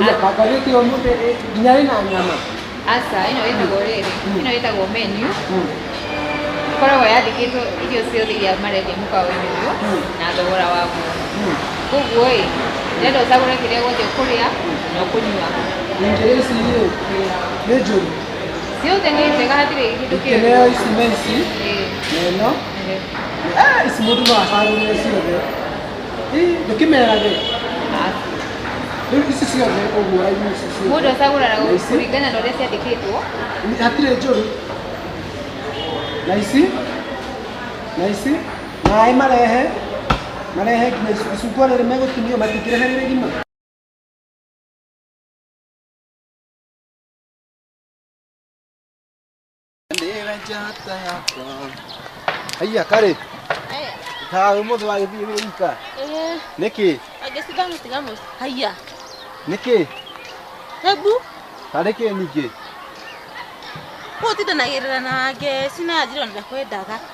Aja kaka yuti yo mute e nyari na nyama. Asa, ino ĩtagwo rĩrĩ, ĩno ĩtagwo menu, ĩkoragwo yandĩkĩtwo irio ciothe iria marendia mũkawa-inĩ ũyũ na thogora waguo. Koguo ĩ, ndĩrenda ũcagũre kĩrĩa gĩothe ũkũrĩa na ũkũnyua. Ingere ici rĩ, nĩ njũru. Ciothe nĩ njega hatirĩ kĩndũ kĩũru. Ingere ici na ici, Ĩĩ, na ĩno. ĩĩ. Eh, ici mũndũ no acagũrĩre ciothe. Mũndũ acagũraga kũringana na ũrĩa ciandĩkĩtwo. hatirĩ njũru na ici na ici maĩ marehe marehe nginya icu- icungwa rĩrĩ megũtinio matingĩrehe rĩrĩ rima Ndĩra njata yakwa. Haiya karĩ, Aya, ta ũmũthĩ wagĩthiĩ wĩ wika. eh, Nĩkĩ? agĩcitha mũtiga mũci. Haiya, Nĩkĩ? hebu Tarĩ kĩ ningĩ? ũtindanagĩrĩra na ngeci na njĩra na kwendaga.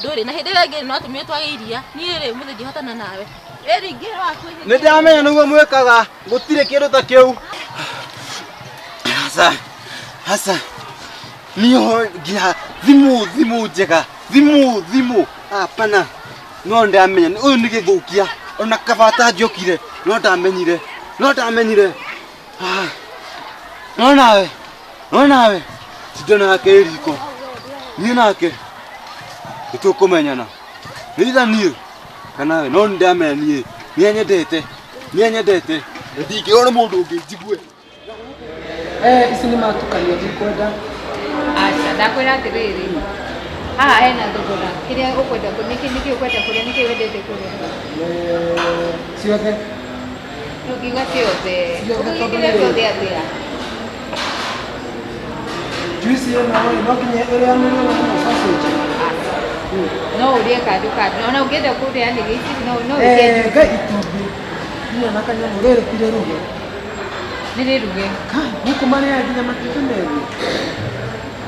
ndũrĩ na hĩndĩ ĩrĩa ĩngĩ no atumia twage iria niĩ rĩ mũthĩ ngĩhotana nawe ĩri ingĩ waku nä ndamenya nä guo mwä kaga gå tirä kä ndå ta kä u hasa hasa niho nginya thimå thimå njega thimå thimå apana no ndamenya å yå nä gä thå kia ona kabata njokire no ndamenyire no ndamenyire Ah, no nawe no nawe tito nake riko niĩ nake nĩtũkũmenyana nĩitha niĩ kana we no nĩndamenya niĩ niĩ nyendete niĩ nyendete na ndingĩona mũndũ ũngĩ njigue Eh, ici nĩ matukanio ndikwenda aca ndakwĩra atĩrĩrĩ haha hena thogora kĩrĩa ũkwenda kũ- nĩkĩ nĩkĩ ũkwenda kũrĩa nĩkĩ wendete kũrĩa Eh, ciothe Juice ĩno rĩ, no nginya ĩrĩanĩrio na ĩno sausage. no ũrĩe kando kando ona ũngĩenda kũrĩanĩria ici no no Eh, ũkĩenje ga itumbĩ. Nginya na kanyamũ rĩrĩ ti rĩruge. nĩ rĩruge Kai, gũkũ marĩaga nginya matumbĩ meru.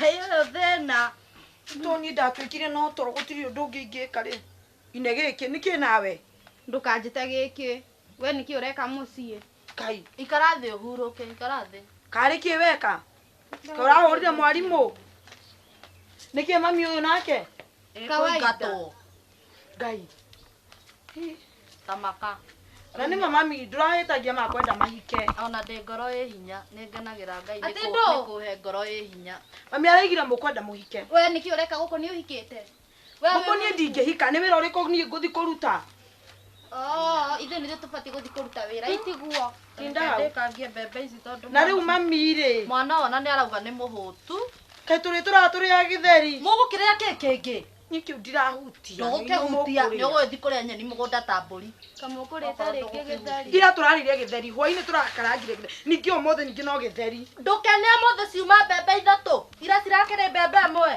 hayo yo thĩna to niĩ ndatuĩkire no toro gũtirĩ ũndũ ũngĩ ingĩka rĩ ine gĩkĩ nĩkĩ nawe ndũkanjĩte gĩkĩ we nĩkĩ ũreka mũciĩ kai ikara thĩ ũhurũke ikara thĩ karĩ kĩ weka Ka ũrahũrire mwarimũ nĩkĩ mami ũyũ nake Kawaida. Ĩkũingatwo. ngai Hi, tamaka na nĩ mamami ndũrahĩtagia ma kwenda mahike ona ndĩ ngoro ĩ hinya nĩ ngenagĩra ngai Atĩ nĩkũ- ndũ? nĩkũhe ngoro ĩ hinya mami araigire mũkwenda mũhike we nĩkĩ ũreka gũkũ nĩ ũhikĩte We wĩ mũkũ niĩ mũhiku? ndingĩhika nĩ wĩra ũrĩkũ niĩ ngũthi kũruta Oo, ithuĩ nĩthuĩ tũbatiĩ gũthiĩ kũruta wĩra itiguo Tinda hau. ndĩkangie mbembe ici tondũ na rĩu mwana- mami rĩ mwana ona nĩ arauga nĩ mũhũtu kaĩ tũrĩ tũratũrĩa gĩtheri mũgũkĩrĩa kĩ kĩngĩ Niĩ kĩu ndirahutia. Ndũgũkĩhutia, nĩ ũgũgĩthiĩ kũrĩa nyeni mũgũnda ta mbũri. Kamũkũrĩte rĩngĩ gĩtheri. Ira tũrarĩire gĩtheri, hwaĩ-inĩ tũrakarangire gĩtheri. Ningĩ ũmũthĩ ningĩ no gĩtheri. Ndũkene ũmũthĩ ciuma mbembe ithatũ, ira cirakĩrĩ mbembe ĩmwe.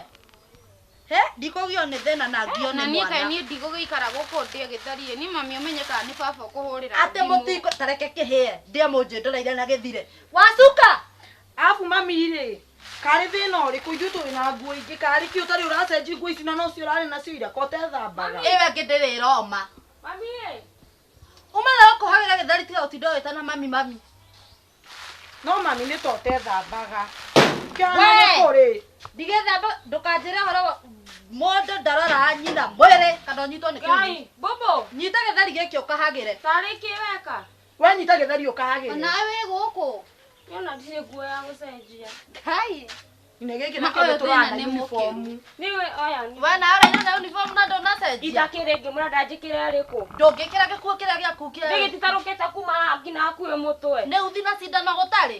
Hĩ, ndikũgio nĩ thĩna na ngio nĩ mwana. Na niĩ kaĩ niĩ ndigũgĩikara gũkũ ndĩe gĩtheri ĩ, niĩ mami ũmenye kana nĩ baba ũkũhũrĩra thimũ. Atĩ mũtingo, ta reke kĩhĩe, ndĩe mũnjĩndoreire na gĩthire. Wacuka! Abu mami rĩ, karĩ thĩna ũrĩkũ ithuĩ tũrĩ na nguo ingĩ karĩ kĩ ũtarĩ ũracenji nguo ici na nocio ũrarĩ nacio ira ko tethambaga. Ĩyo ĩngĩ ndĩrĩ ĩroma. Mami ĩ. Uma na gũkũ hagĩra gĩthari tiga gũtinda ũgĩtana mami mami. No mami nĩ to tethambaga. Kĩhana nĩ kũrĩ. Ndigĩthamba ndũkanjĩre ũhoro wa mũndũ ndaroraga nyina mwĩrĩ kana ũnyitwo nĩ kĩgunyũ. Ngai, Bũbũ. Nyita gĩthari gĩkĩ ũkahagĩre. Tarĩ kĩ weka? wanyita gĩthari ũkahagĩre Ona wĩ gũkũ. Yona ndirĩ nguo ya gũcenjia. Kai. Nĩ gĩkĩ Maka ũyũ thĩna nĩ mũkĩru. Nĩwe oya nĩ. Wana ũraina na uniform na ndũnacenjia. Itakĩrĩ ngĩ mũrenda njĩkĩre arĩkũ. Ndũngĩkĩra gĩkuo kĩrĩa gĩaku kĩerũ. Nĩ gĩtitarũkĩte kuma haha nginya hakuhĩ mũtwe. Nĩ uthi na cindano gũtarĩ.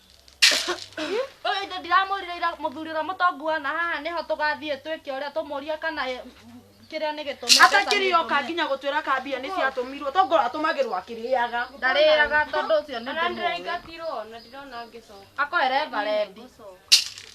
ũyũ indo ndiramwĩrire ira mũthuri ũrĩa mũtongu wana haha nĩho tũgathiĩ twĩke ũrĩa tũmũria kana eh, m- kĩrĩa nĩ gĩtũmi atakĩrĩ yoka nginya gũtwĩra ka mbia nĩ ciatũmirwo tongorwo atũmagĩrwo akĩrĩaga ndarĩaga tondũ ũcio nĩ ndĩmũĩ. akoere varendi Gũcoka.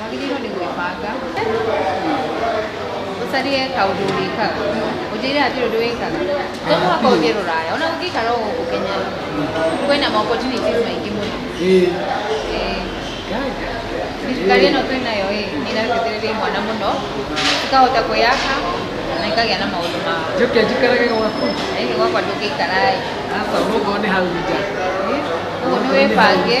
Wagĩrĩirwo nĩ gwĩbanga ũcarie kaũndũ ũrĩkaga ũnjĩre atĩ ũndũ wĩkaga to mũhaka ũthiĩ rũraya ona ũngĩikara o gũkũ Kenya kwĩna ma opportunities maingĩ mũno Ĩĩ. thirikari ĩno twĩ nayo ĩ nĩ ĩrateithĩrĩria imwana mũno ikahota kwĩyaka na ikagĩa na maũndũ mao Njoke njikarage gwaku. ĩĩ gwakwa ndũngĩikara ĩ Aca ũguo nĩ hau nja. ũguo nĩ wĩbange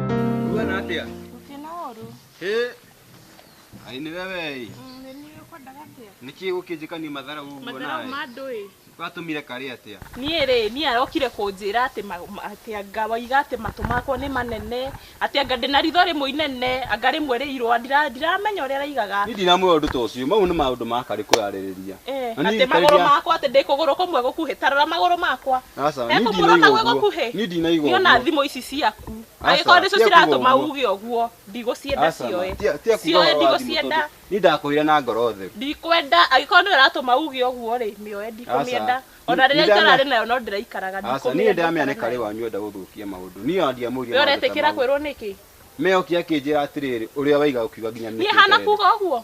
Kuona atia? Gũkĩna ũru. Hĩ. Ai nĩ wewe ĩ. Mm, Nĩ niĩ ũkwendaga atĩa? Nĩkĩ ũkĩnjĩkania mathara ũguo nawe? Mathara ma andũ ĩ. Watũmire karĩ atĩa? niä rä niä arokire kå njä ra atä atä anga waiga atä matå makwa nä manene atä anga ndä na ritho rä må inene anga rä mwe rä irå ndiramenya å rä a raigaga Niĩ ndinamwĩra ũndũ ta ũcio. Mau nĩ maũndũ ma karĩ kwĩarĩrĩria. Eh, Na niĩ atä magå rå ndarĩria- makwa atä ndä kå gå rå kå mwe gå kuhä tarora magå rå makwa Aca, He niĩ kå må rona ndinaiga gwä gå ũguo. kuhä Niĩ ndinaiga nä ona ũguo. thimå ici ciaku Angĩkorwo nĩcio ciratũma uge ũguo, ndigũcienda cioe. Cioe ndigũcienda. Niĩ ndakwĩrire na ngoro theru. Ndikwenda, angĩkorwo nĩyo ĩratũma uge ũguo rĩ, mĩoe ndikũmĩenda. Ona rĩrĩa itararĩ nayo no ndĩraikaraga ndikũmĩenda. Aca niĩ nĩndĩramĩona nĩ karĩ wanyu ũrenda gũthũkia maũndũ. Niĩ ona ndiamũririe maũndũ ta mau. We ũretĩkĩra kwĩrwo nĩkĩ? Mĩoki akĩnjĩra atĩrĩrĩ, ũrĩa waiga ũkiuga nginya nĩkĩ ũtarenda. Niĩ hana kuga ũguo?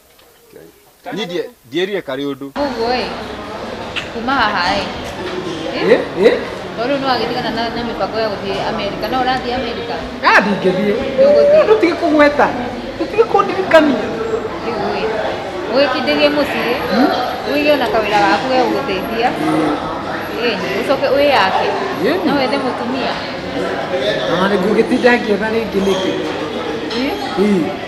niä ndie- ndierire karä å ndå Koguo-ĩ, kuma haha-ĩ, tondũ nĩ wagĩtigana na na mĩbango ya gũthiĩ Amerika, no ũrathiĩ Amerika? ndingĩthiĩ Ndũgũthiĩ. tũtige kũgweta tũtige kũndirikania Rĩu-ĩ, ũgĩkindĩrie mũciĩ, ũige ona kawĩra gaku ge gũgũteithia, ĩ, ũcoke wĩyake, Ĩĩ. no wethe mũtumia. na nĩ ngũgĩtinda ngĩetha rĩngĩ nĩkĩ Ĩ, Ii.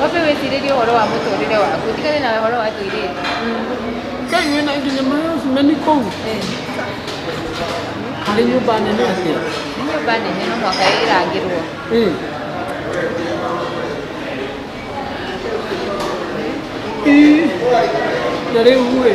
Wambe wĩcirĩrie ũhoro wa mũtũrĩre waku, ũtigane na ũhoro wa tũirĩtu. Ngai wĩna nginya marasimeni kũu harĩ nyũmba nene atĩa Nĩ nyũmba nene no mũhaka ĩrangĩrwo. Eh. Ih, na rĩu rĩ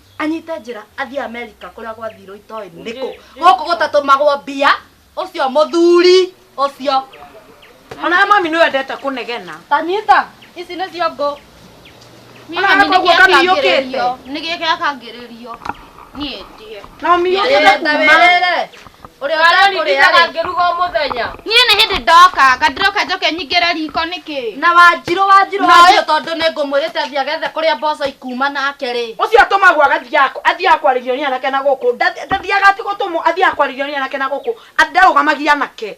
anyite njĩra athiĩ amerika kũrĩa gwathirwo itoĩ nĩkũ gũkũ gũtatũmagwo mbia ũcio mũthuri ũcio Ona mami nĩ wendete kũnegena. tanyita ici nĩcio ngũ Niĩ mami nĩ gĩa kangĩrĩrio. Nĩ gĩa kangĩrĩrio. Niĩ ndie. Na mami Wĩrĩte, wĩrĩre. Ũrĩa ũtakũrĩaga ngĩruga o mũthenya. Niĩ nĩ hĩndĩ ndoka, nga ndĩroka njoke nyingĩre riko nĩkĩ? Na Wanjirũ, Wanjirũ, Na Wanjirũ, ũyũ- tondũ nĩ ngũmwĩrĩte athiĩ agethe kũrĩa mboco ikuuma nake rĩ. Ũcio atũmagwo agathiaga kũ? Athiaga kwarĩrio nĩ anake na gũkũ. Nda- Ndathiaga ati gũtũmwo, athiaga kwarĩrio nĩ anake na gũkũ. Ati ndarũgamagia anake.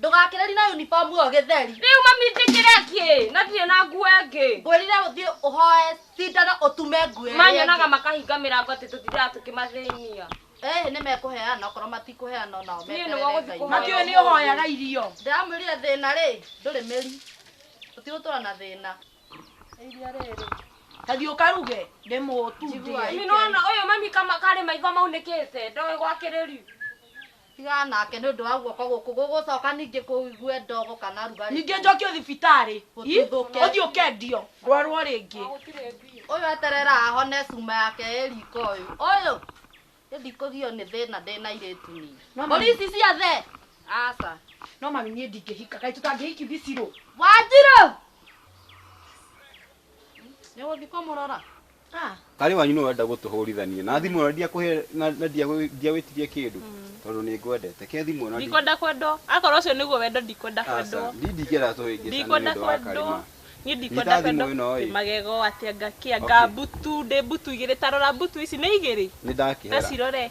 Ndũgakĩreri na uniform ĩyo gĩtheri. Rĩu mami njĩkĩre kĩ? Na ndirĩ na nguo ĩngĩ. Ngwĩrire ũthiĩ ũhoe cindano ũtume nguo ĩrĩa Manyonaga ĩngĩ. makahinga mĩrango atĩ tũtindaga tũkĩmathĩnia. Ĩhĩ nĩmekũheana okorwo matikũheana onao Niĩ meterere nĩguo gũthiĩ Ngai. kũhoya. Mami ũyũ nĩũhoyaga irio. Ndĩramwĩrire thĩna rĩ, ndũrĩ mĩri. Tũtigũtũra na thĩna. Nĩ iria rĩrĩ. Ta thiĩ ũkaruge ndĩmũ tu ndĩe. Njiguai. Mami nĩwona ũyũ mami kama karĩ maitho maunĩkĩte. Ndoĩ gwakĩrĩ riu. Tigana nake nĩ ũndũ wa guoko gũkũ gũgũcoka ningĩ kũigue ndogo kana rugarĩ. Ningĩ njokio thibitarĩ i ũthiĩ ũkendio ndwarwo rĩngĩ. Ũyũ eterera ahone cuma yake ĩ riko ũyũ. Ũyũ niĩ ndikũgio nĩ thĩna ndĩ na airĩtu niĩ. No mami- Mbũri ici ciothe aca. No mami niĩ ndingĩhika kaĩ tũtangĩhiki bicirũ. Wanjirũ! Nĩ ũgũthiĩ kũmũrora? Ah, karĩ wanyu nĩ wenda gũtũhũrithania na thimũ ĩyo ndiakũhe na na ndiagwĩ- ndiagwĩtirie kĩndũ tondũ nĩ ngwendete ke thimũ ĩno ndi- ndikwenda kwendwo akorwo ũcio nĩguo wendo ndikwenda Aca, kwendwo ndi ndingĩenda tũhĩngĩcane nĩ ndikwenda ũndũ wa kwendwo karĩma niĩ ndikwenda Nyita thimũ kwendwo ĩno ĩ. ndĩ magego atĩ anga kĩ anga Okay. mbutu ndĩ mbutu igĩrĩ tarora mbutu ici nĩ igĩrĩ nĩ ta ndakĩhera cirore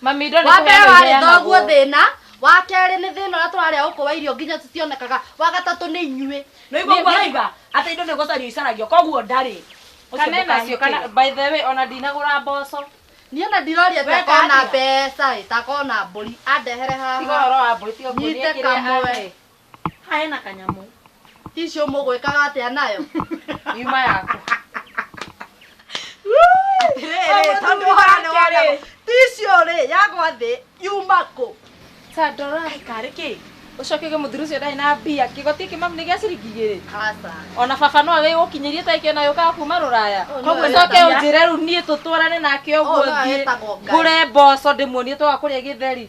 Mami indo nĩ wa mbere kũheana warĩ iheanagwo. thoguo thĩna wa kerĩ nĩ thĩna ũrĩa tũrarĩa gũkũ wa irio nginya tũtionekaga wa gatatũ nĩ inyuĩ nä igua kwa raiga atä indo nä gå cario icaragio koguo ndarä Kana enacio kana by the way ona ndinagũra mboco. niĩ ona ndiroria We takona ndathiga. mbeca ĩ takona mbũri andehere Tiga haha ũhoro wa mbũri tiga nguonie Nyite kĩrĩa kamwe. ahe. Hae na kanyamũ. Icio mũgwĩkaga atĩa nayo? Yuma yaku. Atĩrĩrĩ, tondũ ũhoro nĩ wonagwo. Icio rĩ, yagwa thĩ, yuma kũ? Sir, ndoro arĩ karĩ kĩ? Ũcoke uge mũthuri ũcio ndarĩ na mbia. Kĩgoti kĩ mamu nĩ gĩa ciringi igĩrĩ. Aca. Ona baba no agĩ gũkinyĩria ta ĩkĩona yũkaga kuma rũraya. Ũyũ nĩ Koguo ũrĩa coke ndamenya. ũnjĩre rĩu niĩ tũtwarane nake Ũyũ ũguo nĩwe thiĩ wĩtagwo Ngai. ngũre mboco ndĩmuonie twaga kũrĩa gĩtheri.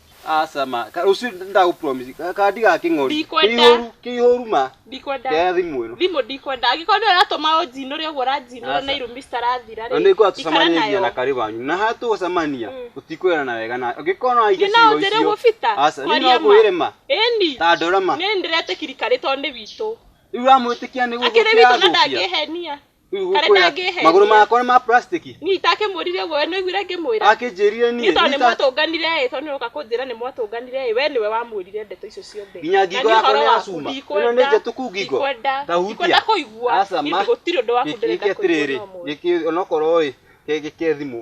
Aca ma, ka- rũciũ ndagũpromise ka- kandi ga kĩng'ori. Ndikwenda. Kĩihũru, kĩihũru ma. Ndikwenda. Kĩa thimũ ĩno. Thimũ ndikwenda. Angĩkorwo nĩ ũratũma ũnjinũre ũguo ũranjinũra Aca. na irumi citarathira Na rĩ. nĩ ngwenda ikara tũcemanie nginya na nayo. karĩ wanyu. Na haha tũgũcemania, Mm. tũtikwĩrana wega na angĩkorwo no aige Nĩ no ciugo njĩre icio. gũbita? Aca, nĩ Kwaria no ma. ngwĩre ma. Ĩni. Ta ndora ma. Nĩ ndĩretĩkirikari tondũ nĩ witũ. Rĩu ũramwĩtĩkia nĩ Akĩrĩ witũ na gũthũkia agũkia. ndangĩhenia. Rĩu Karĩ ngũkwĩra, ndangĩhenia. magũrũ makwa nĩ ma plastic niĩ itakĩmũrire ũguo we nĩwiguire ngĩmwĩra akĩnjĩrire niĩ niĩ tondũ nĩ nĩta- mwatũnganire ĩ tondũ nĩũroka kũnjĩra nĩ mwatũnganire ĩ we nĩwe wamwĩrire ndeto icio ciothe Nginya Na ngingo niĩ yakwa ũhoro nĩ ya waku cuma. ndikwenda- Ĩno nĩ njatũku ngingo. ndikwenda- Ta hutia. ndikwenda kũigua Aca, Niĩ ma. gũtirĩ ũndũ waku Gĩkĩ ndĩrenda kũigua atĩrĩrĩ, no mũndũ. gĩkĩ onokorwo ĩ, gĩkĩ thimũ.